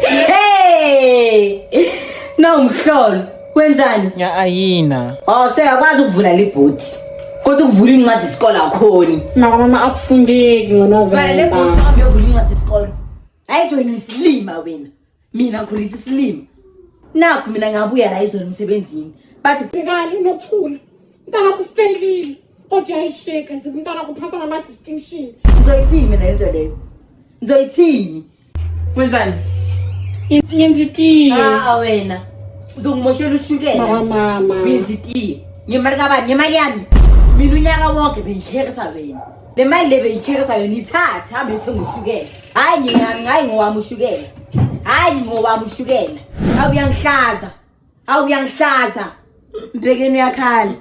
Hey! No mhlolo, wenzani? Nya ayina. Oh, sekakwazi ukuvula libhuti. Kodwa ukuvula incwadi isikole akhoni. Maka mama akufundeki ngoNovember. Vale lebhuti uhambe uyovula incwadi isikole. Hayi nje wena isilima wena. Mina ngikhulisa isilima. Nakho mina ngabuya la izolo emsebenzini. Bathi Bhekani nokuthula. Mntana kufelile kodwa yayisheka zimntana kuphatha ngama distinction. Ngizoyithini mina lento leyo? Ngizoyithini? Wenzani? Ngenza itiye. Ah wena. Uzongimoshela ushukela. Mama mama. Ngenza itiye. Ngemali kabani? Ngemali yami. Mina unyaka wonke bengikhekisa wena. Le mali le bengikhekisa yona ithathe hambe uthenge ushukela. Hayi ngiyami ngayi ngowami ushukela. Hayi ngowami ushukela. Awuyangihlaza. Hawu uyangihlaza. Mbhekeni uyakhala.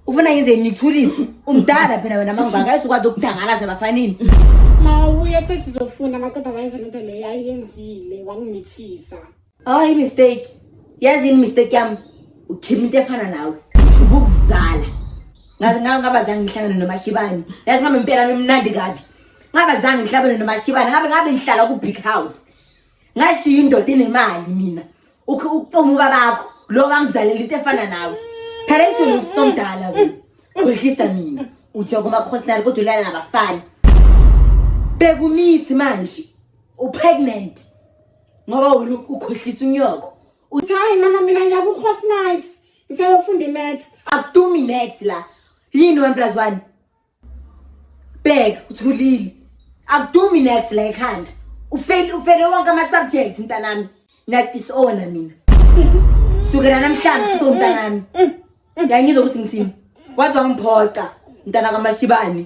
Ufuna ngenze ngithulise. Umdala phela wena mangaka ayizokwazi ukudangala zabafanini. Mawuye ethe sizofuna amadoda wayenza lento leyo ayiyenzile wangimithisa. Hayi oh, mistake. Yazi ini mistake yami? Uthima into efana nawe. Ukuzala. Ngaze ngawe ngaba zange ngihlangane nomashibani. Yazi mama impela mimnandi kabi. Ngaba zange ngihlabane nomashibani. Ngabe ngabe ngihlala ku big house. ngashiya indoda enemali mina ukutoma ubabakho lo wangizalela into efana nawe phela isona usomdala kwehlisa mina uthi kumakhosinayo kodwa ulala nabafana bekumithi manje upregnant ngoba wena ukhohlisa unyoko uthi hayi mama mina ngiya ku-hosnites ngisayofunda imaths akudumi imaths la yini one plus one bheka uthulile akudumi next la ekhanda ufele ufele wonke ama-subject mntanami niyadisowna mina sukela namhlanje siso mntanami yangizwa ukuthi ngithini wathi wangiphoxa mntana kamashibane